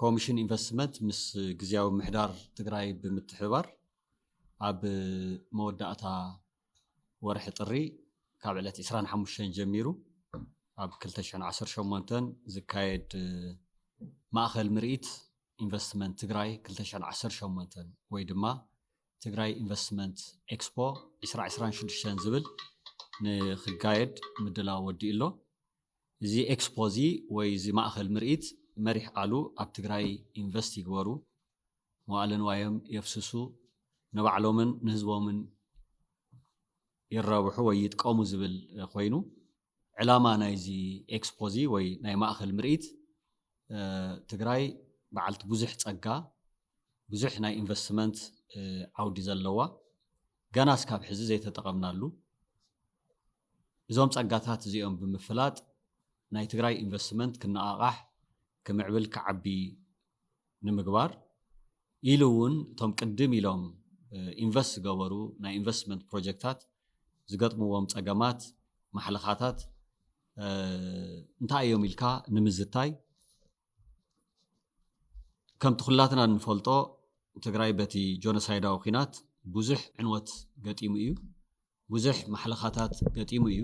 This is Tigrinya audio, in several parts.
ኮሚሽን ኢንቨስትመንት ምስ ግዝያዊ ምሕዳር ትግራይ ብምትሕብባር ኣብ መወዳእታ ወርሒ ጥሪ ካብ ዕለት ዕስራን ሓሙሽተን ጀሚሩ ኣብ ክልተ ሽሕን ዓሰርተ ሸሞንተን ዝካየድ ማእኸል ምርኢት ኢንቨስትመንት ትግራይ ክልተ ሽሕን ዓሰርተ ሸሞንተን ወይ ድማ ትግራይ ኢንቨስትመንት ኤክስፖ ዕስራ ዕስራን ሽዱሽተን ዝብል ንክጋየድ ምድላው ወዲኡ ኣሎ። እዚ ኤክስፖ እዚ ወይ እዚ ማእኸል ምርኢት መሪሕ ቃሉ ኣብ ትግራይ ኢንቨስት ይግበሩ፣ መዋእለ ንዋዮም የፍስሱ፣ ንባዕሎምን ንህዝቦምን ይራብሑ ወይ ይጥቀሙ ዝብል ኮይኑ ዕላማ ናይዚ ኤክስፖ እዚ ወይ ናይ ማእኸል ምርኢት ትግራይ በዓልቲ ብዙሕ ፀጋ ብዙሕ ናይ ኢንቨስትመንት ዓውዲ ዘለዋ ገና እስካብ ሕዚ ዘይተጠቐምናሉ እዞም ፀጋታት እዚኦም ብምፍላጥ ናይ ትግራይ ኢንቨስትመንት ክነቓቓሕ፣ ክምዕብል፣ ክዓቢ ንምግባር ኢሉ እውን እቶም ቅድም ኢሎም ኢንቨስት ዝገበሩ ናይ ኢንቨስትመንት ፕሮጀክታት ዝገጥምዎም ፀገማት፣ ማሕለኻታት እንታይ እዮም ኢልካ ንምዝታይ ከምቲ ኩላትና እንፈልጦ ትግራይ በቲ ጆኖሳይዳዊ ኩናት ብዙሕ ዕንወት ገጢሙ እዩ። ብዙሕ ማሕለኻታት ገጢሙ እዩ።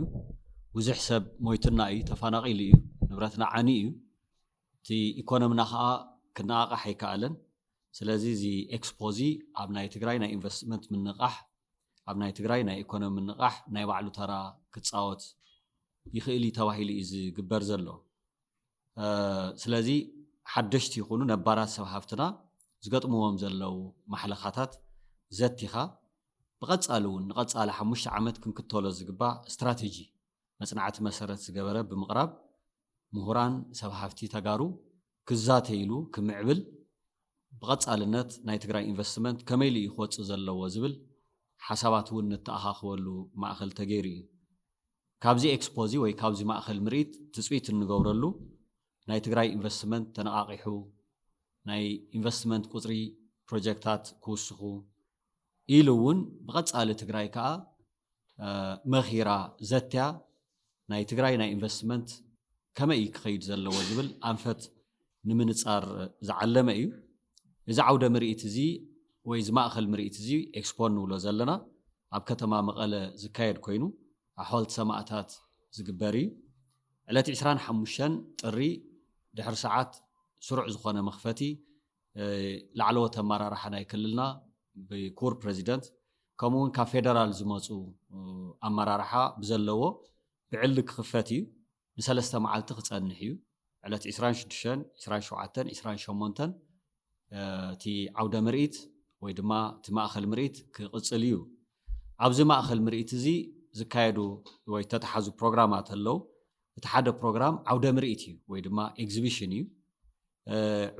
ብዙሕ ሰብ ሞይቱና እዩ፣ ተፈናቒሉ እዩ፣ ንብረትና ዓንዩ እዩ። እቲ ኢኮኖምና ከኣ ክነቓቓሕ ኣይከኣለን። ስለዚ እዚ ኤክስፖ እዚ ኣብ ናይ ትግራይ ናይ ኢንቨስትመንት ምንቓሕ፣ ኣብ ናይ ትግራይ ናይ ኢኮኖሚ ምንቓሕ ናይ ባዕሉ ተራ ክጻወት ይኽእል እዩ ተባሂሉ እዩ ዝግበር ዘሎ። ስለዚ ሓደሽቲ ይኹኑ ነባራት ሰብ ሃፍትና ዝገጥምዎም ዘለው ማሕለኻታት ዘቲኻ ብቐጻሊ እውን ንቐጻሊ ሓሙሽተ ዓመት ክንክተሎ ዝግባእ ስትራቴጂ መፅናዕቲ መሰረት ዝገበረ ብምቕራብ ምሁራን ሰብ ሃፍቲ ተጋሩ ክዛተይሉ ክምዕብል ብቐፃልነት ናይ ትግራይ ኢንቨስትመንት ከመይ ኢሉ እዩ ክወፅእ ዘለዎ ዝብል ሓሳባት እውን ንተኣኻኽበሉ ማእኸል ተገይሩ እዩ። ካብዚ ኤክስፖ እዚ ወይ ካብዚ ማእኸል ምርኢት ትፅቢት እንገብረሉ ናይ ትግራይ ኢንቨስትመንት ተነቓቒሑ ናይ ኢንቨስትመንት ቁፅሪ ፕሮጀክታት ክውስኹ ኢሉ እውን ብቐፃሊ ትግራይ ከዓ መኺራ ዘትያ ናይ ትግራይ ናይ ኢንቨስትመንት ከመይ እዩ ክኸይድ ዘለዎ ዝብል ኣንፈት ንምንፃር ዝዓለመ እዩ። እዚ ዓውደ ምርኢት እዚ ወይ እዚ ማእኸል ምርኢት እዚ ኤክስፖ ንብሎ ዘለና ኣብ ከተማ መቐለ ዝካየድ ኮይኑ ኣብ ሓወልቲ ሰማእታት ዝግበር እዩ። ዕለት ዕስራን ሓሙሽተን ጥሪ ድሕሪ ሰዓት ስሩዕ ዝኾነ መኽፈቲ ላዕለዎት ኣመራርሓ ናይ ክልልና ብክቡር ፕረዚደንት ከምኡ እውን ካብ ፌደራል ዝመፁ ኣመራርሓ ብዘለዎ ብዕሊ ክኽፈት እዩ። ንሰለስተ መዓልቲ ክፀንሕ እዩ። ዕለት ዕስራን ሽዱሽተን፣ ዕስራን ሸውዓተን፣ ዕስራን ሸሞንተን እቲ ዓውደ ምርኢት ወይ ድማ እቲ ማእኸል ምርኢት ክቕፅል እዩ። ኣብዚ ማእኸል ምርኢት እዚ ዝካየዱ ወይ ተተሓዙ ፕሮግራማት ኣለው። እቲ ሓደ ፕሮግራም ዓውደ ምርኢት እዩ ወይ ድማ ኤግዚቢሽን እዩ።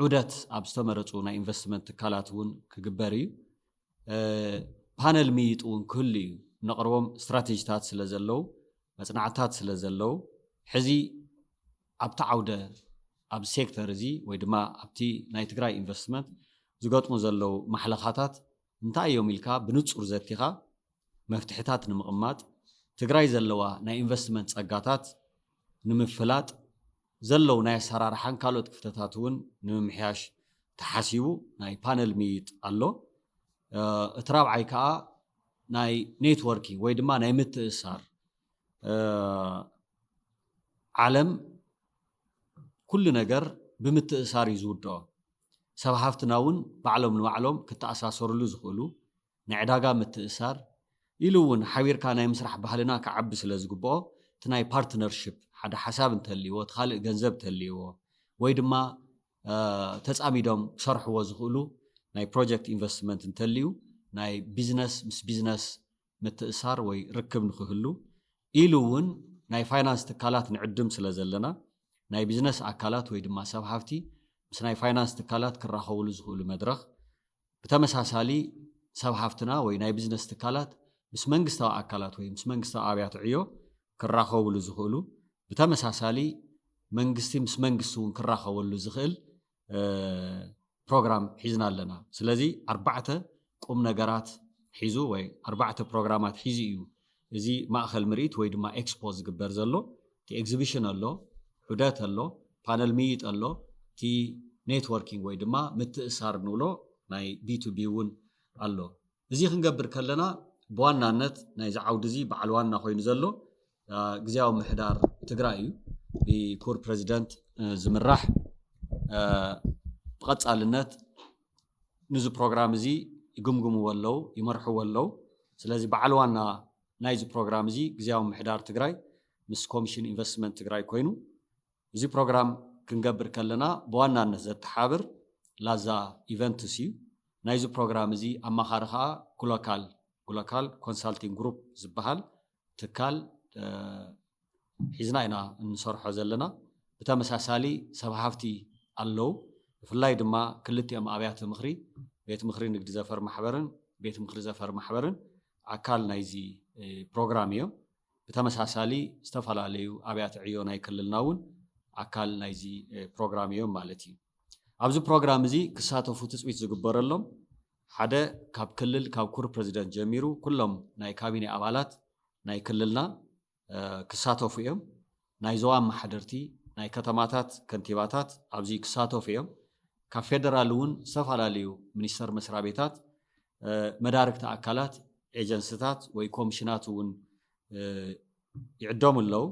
ዑደት ኣብ ዝተመረፁ ናይ ኢንቨስትመንት ትካላት እውን ክግበር እዩ። ፓነል ምይይጥ እውን ክህሉ እዩ። እነቕርቦም ስትራቴጂታት ስለ ዘለው መፅናዕትታት ስለ ዘለው ሕዚ ኣብቲ ዓውደ ኣብ ሴክተር እዚ ወይ ድማ ኣብቲ ናይ ትግራይ ኢንቨስትመንት ዝገጥሙ ዘለው ማሕለኻታት እንታይ እዮም ኢልካ ብንፁር ዘቲኻ መፍትሕታት ንምቕማጥ፣ ትግራይ ዘለዋ ናይ ኢንቨስትመንት ፀጋታት ንምፍላጥ፣ ዘለዉ ናይ ኣሰራርሓን ካልኦት ክፍተታት እውን ንምምሕያሽ ተሓሲቡ ናይ ፓነል ምይይጥ ኣሎ። እቲ ራብዓይ ከዓ ናይ ኔትወርኪንግ ወይ ድማ ናይ ምትእስሳር ዓለም ኩሉ ነገር ብምትእስሳር እዩ ዝውድኦ። ሰብ ሃፍትና እውን ባዕሎም ንባዕሎም ክተኣሳሰርሉ ዝኽእሉ ንዕዳጋ ምትእስሳር ኢሉ እውን ሓቢርካ ናይ ምስራሕ ባህልና ክዓቢ ስለ ዝግብኦ እቲ ናይ ፓርትነርሽፕ ሓደ ሓሳብ እንተልይዎ እቲ ካልእ ገንዘብ ተልይዎ ወይ ድማ ተፃሚዶም ክሰርሕዎ ዝኽእሉ ናይ ፕሮጀክት ኢንቨስትመንት እንተልዩ ናይ ቢዝነስ ምስ ቢዝነስ ምትእሳር ወይ ርክብ ንክህሉ ኢሉ እውን ናይ ፋይናንስ ትካላት ንዕድም ስለ ዘለና ናይ ቢዝነስ ኣካላት ወይ ድማ ሰብ ሃፍቲ ምስ ናይ ፋይናንስ ትካላት ክራኸብሉ ዝኽእሉ መድረኽ ብተመሳሳሊ ሰብ ሃፍትና ወይ ናይ ብዝነስ ትካላት ምስ መንግስታዊ ኣካላት ወይ ምስ መንግስታዊ ኣብያተ ዕዮ ክራኸቡሉ ዝኽእሉ ብተመሳሳሊ መንግስቲ ምስ መንግስቲ እውን ክራኸበሉ ዝኽእል ፕሮግራም ሒዝና ኣለና። ስለዚ ኣርባዕተ ቁም ነገራት ሒዙ ወይ ኣርባዕተ ፕሮግራማት ሒዙ እዩ እዚ ማእኸል ምርኢት ወይ ድማ ኤክስፖ ዝግበር ዘሎ እቲ ኤግዚቢሽን ኣሎ፣ ዑደት ኣሎ፣ ፓነል ምይይጥ ኣሎ፣ እቲ ኔትወርኪንግ ወይ ድማ ምትእስሳር ንብሎ ናይ ቢቱቢ እውን ኣሎ። እዚ ክንገብር ከለና ብዋናነት ናይዚ ዓውዲ እዚ በዓል ዋና ኮይኑ ዘሎ ግዝያዊ ምሕዳር ትግራይ እዩ። ብኩቡር ፕረዚደንት ዝምራሕ ብቐፃልነት ንዚ ፕሮግራም እዚ ይግምግምዎ ኣለው፣ ይመርሕዎ ኣለው። ስለዚ በዓል ዋና ናይዚ ፕሮግራም እዚ ግዝያዊ ምምሕዳር ትግራይ ምስ ኮሚሽን ኢንቨስትመንት ትግራይ ኮይኑ እዚ ፕሮግራም ክንገብር ከለና ብዋናነት ዘተሓብር ላዛ ኢቨንትስ እዩ። ናይዚ ፕሮግራም እዚ ኣማኻሪ ከኣ ጉሎካል፣ Gulokal Consulting Group፣ ዝበሃል ትካል ሒዝና ኢና እንሰርሖ ዘለና። ብተመሳሳሊ ሰብ ሃፍቲ ኣለው። ብፍላይ ድማ ክልቲኦም ኣብያተ ምኽሪ ቤት ምኽሪ ንግዲ ዘፈር ማሕበርን ቤት ምኽሪ ዘፈር ማሕበርን ኣካል ናይዚ ፕሮግራም እዮም። ብተመሳሳሊ ዝተፈላለዩ ኣብያተ ዕዮ ናይ ክልልና እውን ኣካል ናይዚ ፕሮግራም እዮም ማለት እዩ። ኣብዚ ፕሮግራም እዚ ክሳተፉ ትፅቢት ዝግበረሎም ሓደ ካብ ክልል ካብ ኩር ፕረዚደንት ጀሚሩ ኩሎም ናይ ካቢኔ ኣባላት ናይ ክልልና ክሳተፉ እዮም። ናይ ዞባ ኣመሓደርቲ ናይ ከተማታት ከንቲባታት ኣብዚ ክሳተፉ እዮም። ካብ ፌደራል እውን ዝተፈላለዩ ሚኒስተር መስራቤታት መዳርግቲ ኣካላት ኤጀንስታት ወይ ኮሚሽናት እውን ይዕደሙ ኣለዉ።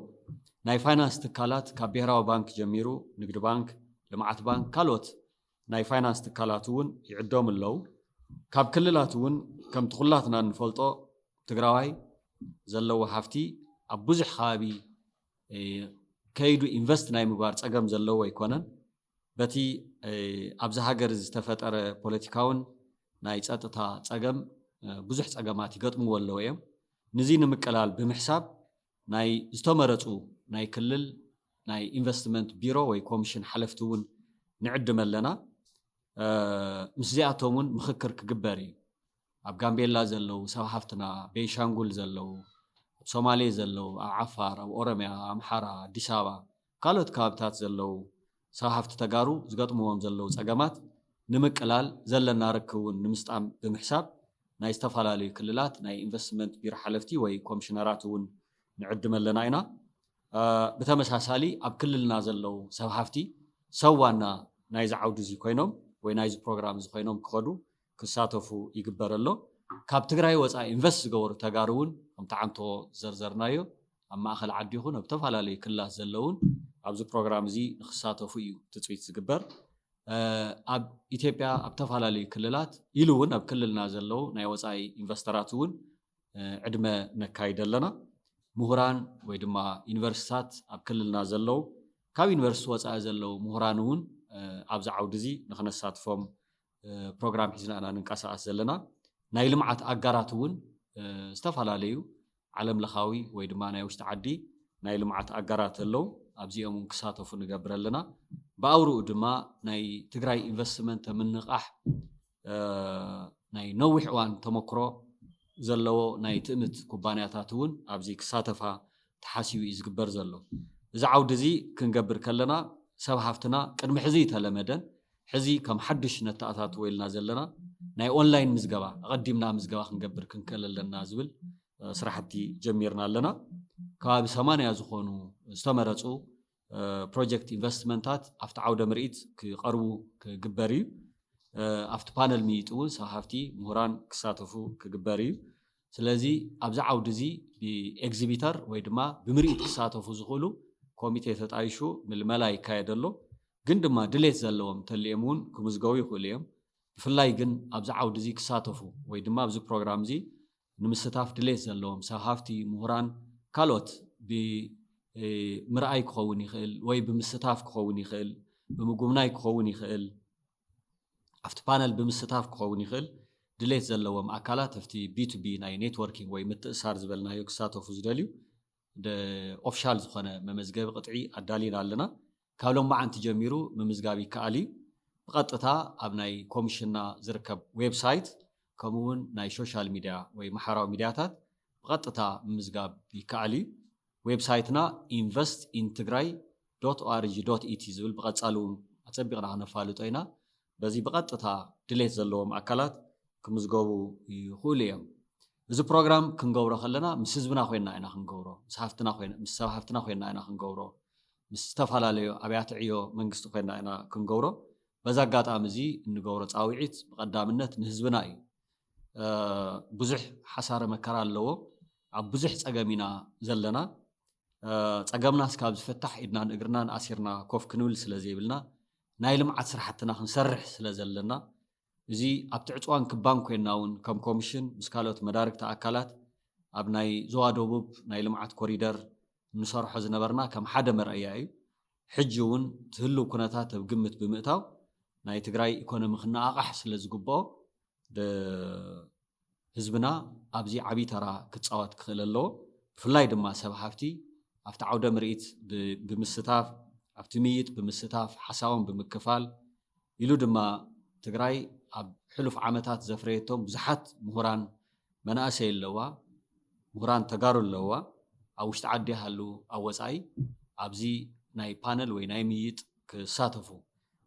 ናይ ፋይናንስ ትካላት ካብ ብሄራዊ ባንክ ጀሚሩ ንግዲ ባንክ፣ ልምዓት ባንክ ካልኦት ናይ ፋይናንስ ትካላት እውን ይዕደሙ ኣለው። ካብ ክልላት እውን ከምቲ ኩላትና እንፈልጦ ትግራዋይ ዘለዎ ሃፍቲ ኣብ ብዙሕ ከባቢ ከይዱ ኢንቨስት ናይ ምግባር ፀገም ዘለዎ ኣይኮነን። በቲ ኣብዚ ሃገር ዝተፈጠረ ፖለቲካውን ናይ ፀጥታ ፀገም ብዙሕ ፀገማት ይገጥምዎ ኣለዉ እዮም። ንዚ ንምቅላል ብምሕሳብ ናይ ዝተመረፁ ናይ ክልል ናይ ኢንቨስትመንት ቢሮ ወይ ኮምሽን ሓለፍቲ እውን ንዕድም ኣለና። ምስዚኣቶም እውን ምኽክር ክግበር እዩ። ኣብ ጋምቤላ ዘለው ሰብ ሃፍትና፣ ቤንሻንጉል ዘለው፣ ኣብ ሶማሌ ዘለው፣ ኣብ ዓፋር፣ ኣብ ኦሮሚያ፣ ኣምሓራ፣ ኣዲስ ኣበባ ካልኦት ከባቢታት ዘለዉ ስራሕፍቲ ተጋሩ ዝገጥምዎም ዘለዉ ፀገማት ንምቅላል ዘለና ርክብ እውን ንምስጣም ብምሕሳብ ናይ ዝተፈላለዩ ክልላት ናይ ኢንቨስትመንት ቢሮ ሓለፍቲ ወይ ኮምሽነራት እውን ንዕድም ኣለና ኢና። ብተመሳሳሊ ኣብ ክልልና ዘለዉ ሰብ ሃፍቲ ሰብ ዋና ናይዚ ዓውዲ እዙይ ኮይኖም ወይ ናይዚ ፕሮግራም እዚ ኮይኖም ክኸዱ ክሳተፉ ይግበር ኣሎ። ካብ ትግራይ ወፃኢ ኢንቨስት ዝገበሩ ተጋሩ እውን ከምቲ ዓንቶ ዝዘርዘርናዮ ኣብ ማእኸል ዓዲ ይኹን ኣብ ዝተፈላለዩ ክልላት ዘለው እውን ኣብዚ ፕሮግራም እዚ ንክሳተፉ እዩ ትፅቢት ዝግበር። ኣብ ኢትዮጵያ ኣብ ተፈላለዩ ክልላት ኢሉ እውን ኣብ ክልልና ዘለው ናይ ወፃኢ ኢንቨስተራት እውን ዕድመ ነካይደ ኣለና። ምሁራን ወይ ድማ ዩኒቨርሲቲታት ኣብ ክልልና ዘለው ካብ ዩኒቨርሲቲ ወፃኢ ዘለው ምሁራን እውን ኣብዚ ዓውዲ እዚ ንክነሳትፎም ፕሮግራም ሒዝና ኢና ንንቀሳቐስ ዘለና። ናይ ልምዓት ኣጋራት እውን ዝተፈላለዩ ዓለም ለኻዊ ወይ ድማ ናይ ውሽጢ ዓዲ ናይ ልምዓት ኣጋራት ኣለው። ኣብዚኦም እውን ክሳተፉ ንገብር ኣለና። ብኣውርኡ ድማ ናይ ትግራይ ኢንቨስትመንት ምንቓሕ ናይ ነዊሕ እዋን ተመክሮ ዘለዎ ናይ ትእምት ኩባንያታት እውን ኣብዚ ክሳተፋ ተሓሲቡ እዩ ዝግበር ዘሎ። እዚ ዓውዲ እዚ ክንገብር ከለና ሰብ ሃፍትና ቅድሚ ሕዚ እይተለመደን። ሕዚ ከም ሓዱሽ ነተኣታትዎ ኢልና ዘለና ናይ ኦንላይን ምዝገባ ኣቐዲምና ምዝገባ ክንገብር ክንክእል ኣለና ዝብል ስራሕቲ ጀሚርና ኣለና። ከባቢ ሰማንያ ዝኾኑ ዝተመረፁ ፕሮጀክት ኢንቨስትመንታት ኣብቲ ዓውደ ምርኢት ክቐርቡ ክግበር እዩ። ኣብቲ ፓነል ምይይጥ እውን ሰብ ሃፍቲ፣ ምሁራን ክሳተፉ ክግበር እዩ። ስለዚ ኣብዚ ዓውዲ እዚ ብኤግዚቢተር ወይ ድማ ብምርኢት ክሳተፉ ዝኽእሉ ኮሚቴ ተጣይሹ ምልመላ ይካየድ ኣሎ። ግን ድማ ድሌት ዘለዎም እንተልዮም እውን ክምዝገቡ ይኽእሉ እዮም። ብፍላይ ግን ኣብዚ ዓውዲ እዚ ክሳተፉ ወይ ድማ ኣብዚ ፕሮግራም እዚ ንምስታፍ ድሌት ዘለዎም ሰብ ሃፍቲ፣ ምሁራን፣ ካልኦት ብምርኣይ ክኸውን ይኽእል ወይ ብምስታፍ ክኸውን ይኽእል ብምጉብናይ ክኸውን ይኽእል። ኣብቲ ፓነል ብምስታፍ ክኸውን ይኽእል፣ ድሌት ዘለዎም ኣካላት ኣብቲ ቢቱቢ ናይ ኔትዎርኪንግ ወይ ምትእስሳር ዝበልናዮ ክሳተፉ ዝደልዩ ደ ኦፍሻል ዝኾነ መመዝገቢ ቅጥዒ ኣዳሊና ኣለና። ካብ ሎማዓንቲ ጀሚሩ ምምዝጋብ ይከኣል እዩ። ብቐጥታ ኣብ ናይ ኮምሽንና ዝርከብ ዌብ ሳይት ከምኡ እውን ናይ ሾሻል ሚድያ ወይ ማሕበራዊ ሚድያታት ብቐጥታ ምምዝጋብ ይከኣል እዩ። ዌብሳይትና ኢንቨስትኢንትግራይ ዶት ኦኣርጂ ዶት ኢቲ ዝብል ብቐፃሊ እውን ኣፀቢቕና ክነፋልጦ ኢና። በዚ ብቐጥታ ድሌት ዘለዎም ኣካላት ክምዝገቡ ይኽእሉ እዮም። እዚ ፕሮግራም ክንገብሮ ከለና ምስ ህዝብና ኮይንና ኢና ክንገብሮ፣ ምስ ሃፍትና ኮይና ምስ ሰብ ሃፍትና ኮይንና ኢና ክንገብሮ፣ ምስ ዝተፈላለዩ ኣብያተ ዕዮ መንግስቲ ኮይንና ኢና ክንገብሮ። በዚ ኣጋጣሚ እዚ እንገብሮ ፃውዒት ብቐዳምነት ንህዝብና እዩ። ብዙሕ ሓሳረ መከራ ኣለዎ ኣብ ብዙሕ ፀገም ኢና ዘለና ፀገምና እስካብ ዝፍታሕ ኢድናን እግርናን ኣሲርና ኮፍ ክንብል ስለዘይብልና ናይ ልምዓት ስራሕትና ክንሰርሕ ስለዘለና እዚ ኣብቲ ዕፅዋን ክባን ኮይና እውን ከም ኮሚሽን ምስ ካልኦት መዳርግቲ ኣካላት ኣብ ናይ ዞባ ደቡብ ናይ ልምዓት ኮሪደር እንሰርሖ ዝነበርና ከም ሓደ መርኣያ እዩ ሕጂ እውን እቲ ህልው ኩነታት ኣብ ግምት ብምእታው ናይ ትግራይ ኢኮኖሚ ክነቓቓሕ ስለ ዝግበኦ ህዝብና ኣብዚ ዓብይ ተራ ክፃወት ክኽእል ኣለዎ። ብፍላይ ድማ ሰብ ሃፍቲ ኣብቲ ዓውደ ምርኢት ብምስታፍ ኣብቲ ምይይጥ ብምስታፍ ሓሳቦም ብምክፋል ኢሉ ድማ ትግራይ ኣብ ሕሉፍ ዓመታት ዘፍረየቶም ብዙሓት ምሁራን መናእሰይ ኣለዋ፣ ምሁራን ተጋሩ ኣለዋ፣ ኣብ ውሽጢ ዓዲ ይሃሉ ኣብ ወፃኢ ኣብዚ ናይ ፓነል ወይ ናይ ምይይጥ ክሳተፉ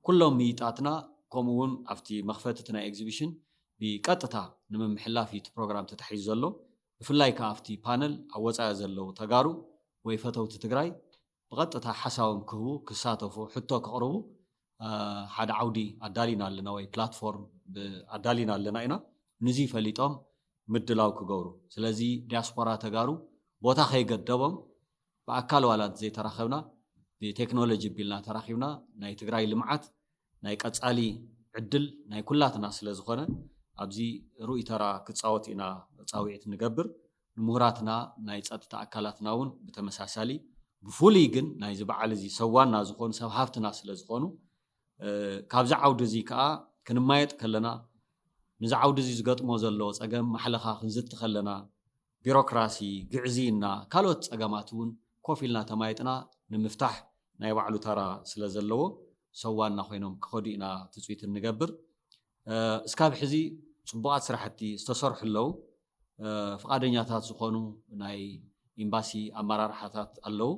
ኩሎም ምይይጣትና ከምኡ እውን ኣብቲ መኽፈቲ እቲ ናይ ኤግዚቢሽን ብቀጥታ ንምምሕላፍ እዩ እቲ ፕሮግራም ተታሒዙ ዘሎ ብፍላይ ከዓ ኣብቲ ፓነል ኣብ ወፃኢ ዘለዉ ተጋሩ ወይ ፈተውቲ ትግራይ ብቐጥታ ሓሳቦም ክህቡ፣ ክሳተፉ፣ ሕቶ ከቕርቡ ሓደ ዓውዲ ኣዳሊና ኣለና ወይ ፕላትፎርም ኣዳሊና ኣለና ኢና። ንዙይ ፈሊጦም ምድላው ክገብሩ። ስለዚ ዲያስፖራ ተጋሩ ቦታ ከይገደቦም ብኣካል ዋላ እንተዘይተራኸብና ብቴክኖሎጂ ቢልና ተራኺብና ናይ ትግራይ ልምዓት ናይ ቀጻሊ ዕድል ናይ ኩላትና ስለ ዝኾነ ኣብዚ ርኡይ ተራ ክጻወት ኢና ጻውዒት ንገብር። ንሙሁራትና ናይ ጸጥታ ኣካላትና ውን ብተመሳሳሊ ብፍሉይ ግን ናይዚ በዓል እዚ ሰብ ዋና ዝኾኑ ሰብ ሃፍትና ስለ ዝኾኑ ካብዚ ዓውዲ እዚ ከኣ ክንማየጥ ከለና ንዚ ዓውዲ እዚ ዝገጥሞ ዘሎ ጸገም ማሕለኻ ክንዝቲ ከለና ቢሮክራሲ፣ ግዕዝይና፣ ካልኦት ፀገማት እውን ኮፍ ኢልና ተማይጥና ንምፍታሕ ናይ ባዕሉ ተራ ስለ ዘለዎ ሰብ ዋና ኮይኖም ክኸዱ ኢና ትፅቢት እንገብር። እስካብ ሕዚ ፅቡቓት ስራሕቲ ዝተሰርሑ ኣለው። ፍቓደኛታት ዝኾኑ ናይ ኢምባሲ ኣመራርሓታት ኣለው።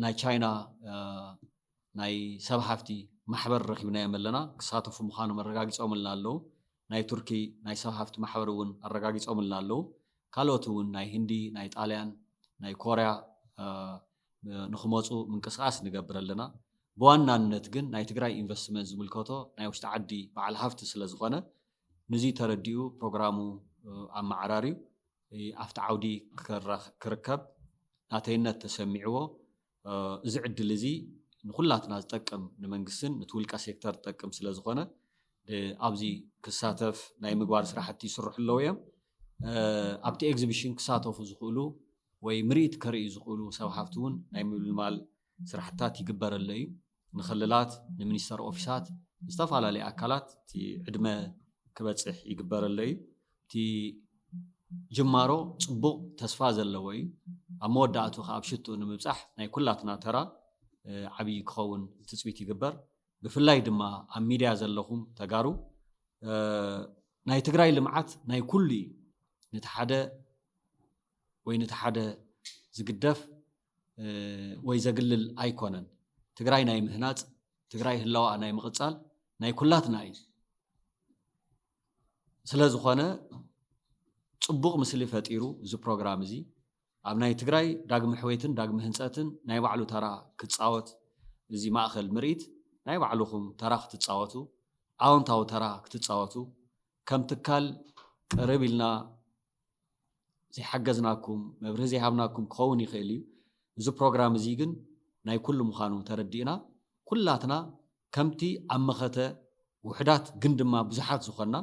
ናይ ቻይና ናይ ሰብ ሃፍቲ ማሕበር ረኺብናዮም ኣለና። ክሳተፉ ምዃኖም ኣረጋጊጾምልና ኣለዉ። ናይ ቱርኪ ናይ ሰብ ሃፍቲ ማሕበር እውን ኣረጋጊጾምልና ኣለዉ። ካልኦት እውን ናይ ህንዲ፣ ናይ ጣልያን፣ ናይ ኮርያ ንክመጹ ምንቅስቓስ ንገብር ኣለና። ብዋናነት ግን ናይ ትግራይ ኢንቨስትመንት ዝምልከቶ ናይ ውሽጢ ዓዲ በዓል ሃፍቲ ስለዝኾነ ንዙይ ተረዲኡ ፕሮግራሙ ኣመዓራርዩ ኣብቲ ዓውዲ ክርከብ ናተይነት ተሰሚዕዎ እዚ ዕድል እዚ ንኹላትና ዝጠቅም ንመንግስትን ንቲ ውልቀ ሴክተር ዝጠቅም ስለ ዝኾነ ኣብዚ ክሳተፍ ናይ ምግባር ስራሕቲ ይስርሑ ኣለዉ እዮም። ኣብቲ ኤግዚቢሽን ክሳተፉ ዝኽእሉ ወይ ምርኢት ከርእዩ ዝኽእሉ ሰብ ሃፍቲ እውን ናይ ምልማል ስራሕትታት ይግበረሎ እዩ። ንክልላት ንሚኒስተር ኦፊሳት ንዝተፈላለዩ ኣካላት እቲ ዕድመ ክበፅሕ ይግበረሎ እዩ። እቲ ጅማሮ ፅቡቕ ተስፋ ዘለዎ እዩ። ኣብ መወዳእቱ ከዓ ኣብ ሽትኡ ንምብፃሕ ናይ ኩላትና ተራ ዓብዪ ክኸውን ትፅቢት ይግበር። ብፍላይ ድማ ኣብ ሚድያ ዘለኹም ተጋሩ ናይ ትግራይ ልምዓት ናይ ኩሉ እዩ። ነቲ ሓደ ወይ ነቲ ሓደ ዝግደፍ ወይ ዘግልል ኣይኮነን። ትግራይ ናይ ምህናፅ፣ ትግራይ ህላዋኣ ናይ ምቕፃል ናይ ኩላትና እዩ። ስለ ዝኾነ ፅቡቕ ምስሊ ፈጢሩ እዚ ፕሮግራም እዚ ኣብ ናይ ትግራይ ዳግሚ ሕዌትን ዳግሚ ህንፀትን ናይ ባዕሉ ተራ ክፃወት እዚ ማእኸል ምርኢት ናይ ባዕልኹም ተራ ክትፃወቱ ኣዎንታዊ ተራ ክትፃወቱ ከም ትካል ቅርብ ኢልና ዘይሓገዝናኩም መብርሂ ዘይሃብናኩም ክኸውን ይኽእል እዩ እዚ ፕሮግራም እዚ ግን ናይ ኩሉ ምዃኑ ተረዲእና ኩላትና ከምቲ ኣብ መኸተ ውሕዳት ግን ድማ ብዙሓት ዝኾና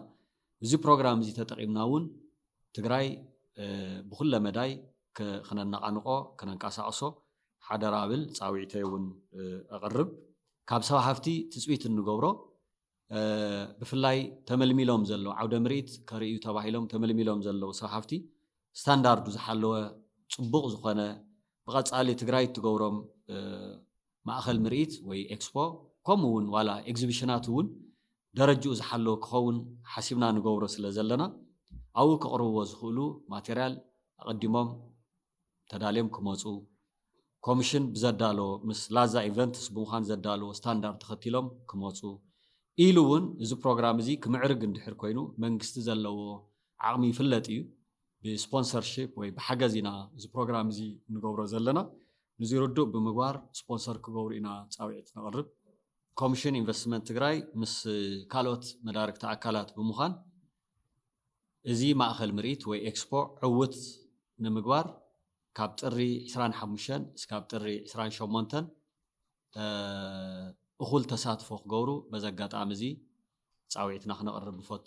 እዚ ፕሮግራም እዚ ተጠቒምና እውን ትግራይ ብኩለ መዳይ ክነነቓንቆ ክነንቀሳቕሶ ሓደራ ብል ፃውዒተይ እውን ኣቕርብ ካብ ሰብ ሃፍቲ ትፅቢት እንገብሮ ብፍላይ ተመልሚሎም ዘለዉ ዓውደ ምርኢት ከርእዩ ተባሂሎም ተመልሚሎም ዘለዉ ሰብ ሃፍቲ ስታንዳርዱ ዝሓለወ ፅቡቕ ዝኾነ ብቐፃሊ ትግራይ እትገብሮም ማእኸል ምርኢት ወይ ኤክስፖ ከምኡ እውን ዋላ ኤግዚቢሽናት እውን ደረጅኡ ዝሓለወ ክኸውን ሓሲብና ንገብሮ ስለ ዘለና ኣብኡ ክቕርብዎ ዝኽእሉ ማቴሪያል ኣቐዲሞም ተዳልዮም ክመፁ ኮምሽን ብዘዳለዎ ምስ ላዛ ኢቨንትስ ብምዃን ዘዳለዎ ስታንዳርድ ተኸቲሎም ክመፁ ኢሉ እውን እዚ ፕሮግራም እዚ ክምዕርግ እንድሕር ኮይኑ መንግስቲ ዘለዎ ዓቕሚ ይፍለጥ እዩ ብስፖንሰርሽፕ ወይ ብሓገዝ ኢና እዚ ፕሮግራም እዚ ንገብሮ ዘለና ንዚ ርዱእ ብምግባር ስፖንሰር ክገብሩ ኢና ፃውዒት ነቕርብ። ኮምሽን ኢንቨስትመንት ትግራይ ምስ ካልኦት መዳርግቲ ኣካላት ብምዃን እዚ ማእኸል ምርኢት ወይ ኤክስፖ ዕውት ንምግባር ካብ ጥሪ ዕስራን ሓሙሽተን እስካብ ጥሪ ዕስራን ሸሞንተን እኹል ተሳትፎ ክገብሩ በዚ ኣጋጣሚ እዚ ፃውዒትና ክነቕርብ ንፈቱ።